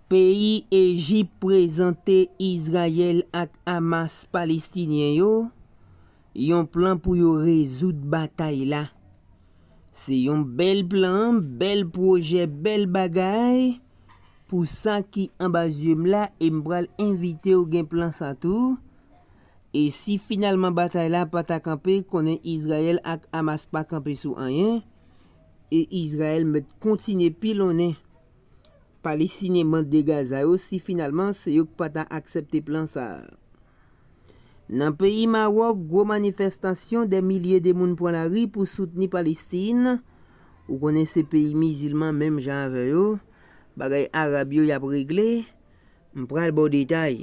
Peyi Ejip prezante Izrayèl ak Hamas Palestinyen yo yon plan pou yo rezoud batay la. Se yon bèl plan, bèl pwojè, bèl bagay pou sa ki anba zye m la e m pral envite w gen plan sa tou. E si finalman batay la pa ta kanpe, konnen Izrayèl ak Hamas pa kanpe sou anyen e Izrayèl mèt kontinye pilonnen Palestinyen mande Gaza yo si finalman se yo k pa ta aksepte plan sa a. Nan peyi Mawòk gwo manifestasyon dè milye de moun pran lari pou soutni Palestin, ou konnen se peyi mizilman menm jan avè yo, bagay arab yo y ap regle, m pral ba w detay.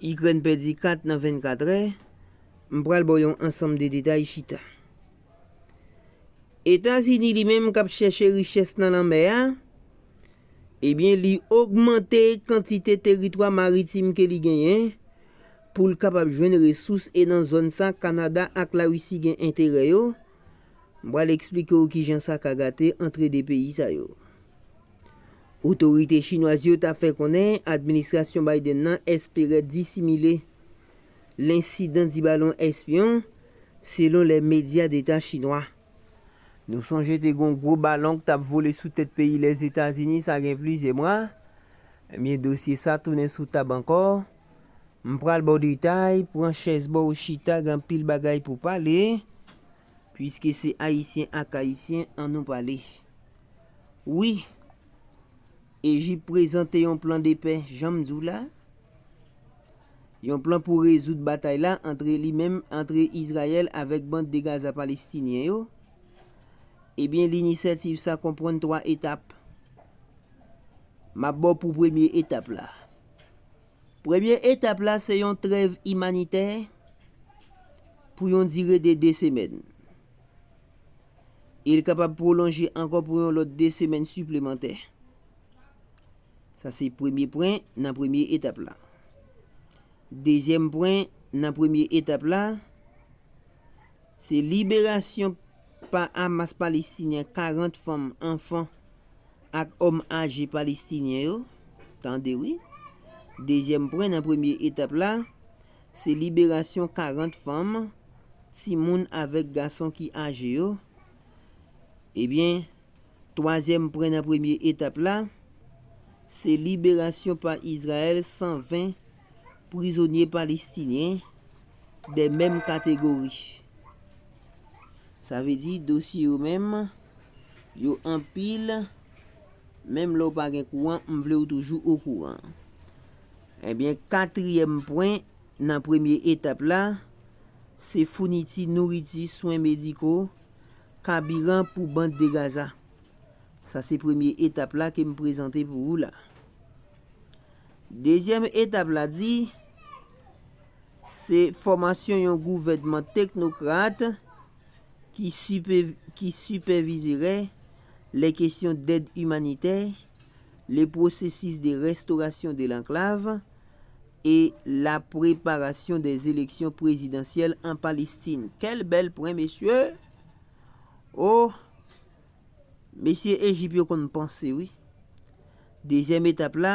Ikrèn pèdi 4 nan 24 rè, m pral baw yon ansanm de detay chita. Etazini li menm kap chèche richès nan lanmè a, ebyen li ogmante kantite teritwa maritim ke li genyen pou l kapab jwenn resous e nan zòn sa Kanada ak Larisi gen enterè yo, m pral eksplike w kijan sa ka gate antre 2 peyi sa yo. Otorite chinwaz yo ta fè konnen administrasyon Biden nan espere disimile lensidan di balon espyon, selon lè medya deta chinwa. Nou sonje te gon gwo balon k tap vole sou tèt peyi Lèzetazini sa gen plizyè mwa, ebyen dosye sa tounen sou tab ankò. M pral ba w detay, pran chèz ba w chita gen anpil bagay pou pale. Pwiske se Ayisyen ak Ayisyen, an nou pale. Wi, Ejip prezante yon plan de pè, jan m di w la, yon plan pou rezoud batay la antre li menm, antre Izrayèl avèk Bande de Gaza Palestinyen yo. Ebyen, linisyativ sa konprann twa etap. M ap ba w pou premye etap la. Premye etap la se yon trèv imanitè pou yon dire de 2 semèn. E li kapab pwolonje ankò pou yon lòt 2 semèn siplemantè. Sa se premye pwen nan premye etap la. Dezyèm pwen nan premye etap la, se liberasyon pa Hamas Palestinyen 40 fanm, anfan, Ak òm aje palestinyen yo, tande wi. Dezyèm pwen nan premye etap la, se liberasyon 40 fanm, timoun avèk gason ki aje yo. Ebyen, twazyèm pwen nan premye etap la, se liberasyon pa Izrayèl 120 prizonye palestinyen de menm kategori. Sa vle di dosye yo menm. Yo anpil, menm lè ou pa gen kouran, m vle ou toujou okouran. Ebyen, katriyèm pwen nan premye etap la, se founiti nouriti, swen mediko, kabiran pou Band de Gaza. Sa se premye etap la ke m prezante pou ou la. Dezyèm etap la di, Se fòmasyon yon gouvènman teknokrat ki sipèvizerè lè kesyon dèd imanitè, le processus de restauration de l'enclave e la preparation des elections prezidansyèl an Palestin. Kèl bèl pwen mesye! Oh! Mesye Ejip yo konn panse wi. Dezyèm etap la,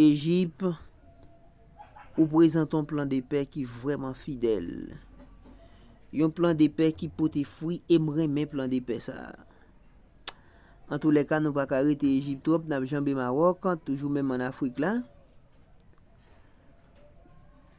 Ejip, ou prezante yon plan de pè ki vrèman fidèl. Yon plan de pè ki pote fwi e m renmen plan de pè sa a. Antoulèka nou pa ka rete Ejip twòp, n ap janbe Mawòk, toujou menm an Afrik la.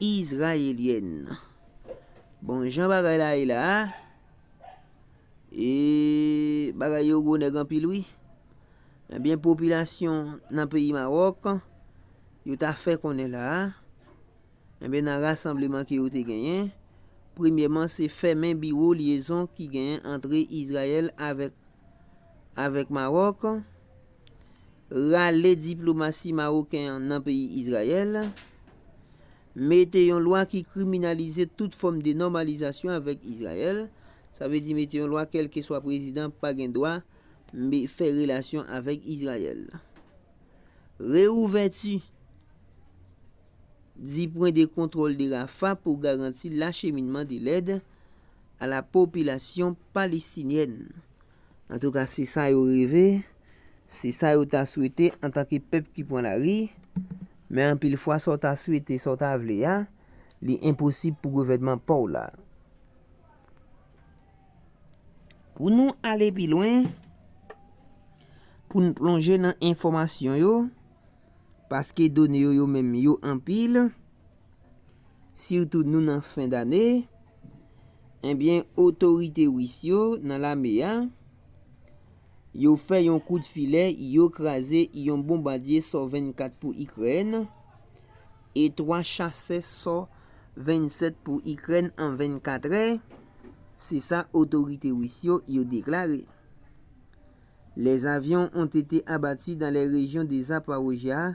Izrayelyèn. Bon jan bagay la ye la a. Eee bagay yo gwo nèg anpil wi. Ebyen popilasyon nan peyi Mawòk yo ta fè konnen la a, ebyen nan rasanbleman ke yo te genyen, premyèman se fèmen biwo lyezon ki genyen antre Izrayèl avèk avèk Mawòk, Rale diplomasi maroken an nan peyi Izrayèl, Mete yon lwa ki kriminalize tout fòm de nòmalizasyon avèk Izrayèl, sa vle di mete yon lwa kèlkeswa prezidan pa gen dwa fè relasyon avèk Izrayèl. Reouvèti 10 pwen de kontwòl de Rafah pou garanti lacheminman de lèd a la popilasyon palestinyèn. Antouka se sa yo reve, se sa yo ta swete antanke pèp ki pran lari, men anpil fwa sa w ta swete, sa w ta vle a, li enposib pou gouvènman pa w la. Pou nou ale pi lwen, pou n plonje nan enfòmasyon yo, paske done yo yo menm yo anpil, Sitou nou nan fen dane, ebyen otorite Ris yo nan lame a, yo fè yon kout filè, yo kraze yon bonbadye Sò 24 pou Ikrèn e 3 chasè Sò 27 pou Ikrèn an 24 è, se sa otorite Ris yo yo deklare. Les avions ont été abattus dans les régions de Zaporizhzhia,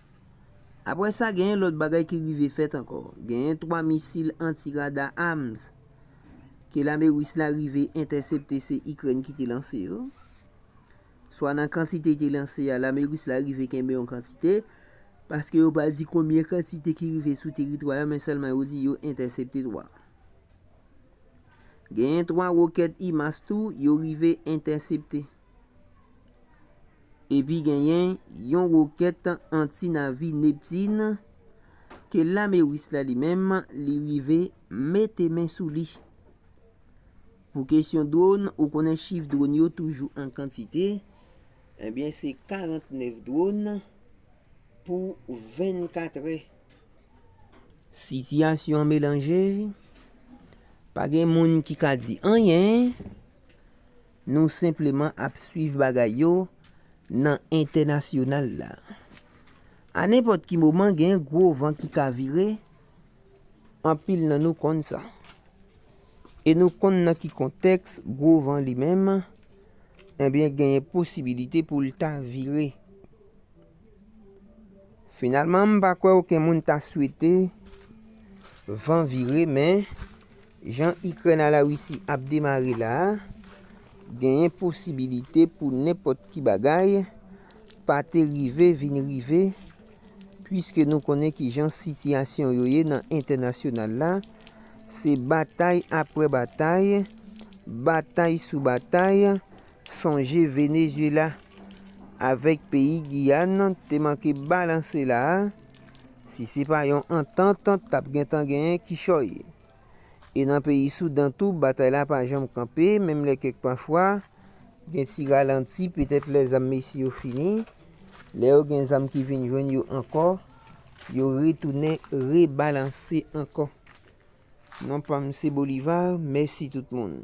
Apre sa, genyen lòt bagay ki rive fèt ankò. Genyen 3 misil anti-rada HARMS ke lame Ris la rive entèsepte se Ikrèn ki te lanse yo. Swa nan kantite te lanse a, lame Ris la rive kenbe yon kantite, paske yo pa di konbyen kantite ki rive sou teritwa yo men sèlman yo di yo entèsepte 3. Genyen 3 wokèt HIMARS tou yo rive entèsepte. Epi genyen yon wokèt anti-navi Neptune ke lame Ris la li menm li rive mete men sou li. Pou kesyon dron, ou konnen chif dron yo toujou an kantite, ebyen se 49 dron pou 24 è. Sitiyasyon an melanje, pa gen moun ki ka di anyen. Nou senpleman ap swiv bagay yo nan entènasyonal la. A nenpòt ki moman gen gwo van ki ka vire, anpil nan nou konn sa. E nou konn nan ki kontèks gwo van li menm ebyen genyen posibilite pou l ta vire. Finalman m pa kwè oken moun ta swete van vire men Jan Ikrèn a La Risi ap demare la a, genyen posibilite pou nenpòt ki bagay pa te rive vin rive puiske nou konnen kijan sitiyasyon yo ye nan entènasyonal la, se batay apre batay, batay sou batay, sonje Venezyela avèk peyi Giyàn te manke balanse la a. Si se pa yon antant t ap gentan genyen kichòy. E nan peyi Soudan tou batay la pa janm kanpe menm lè kèk pafwa gen ti ralanti petèt lè zam mesye yo fini. Lè yo gen zam ki vin jwenn yo ankò, yo retounen rebalanse ankò. Non pa m se Bolivar, mèsi tout moun.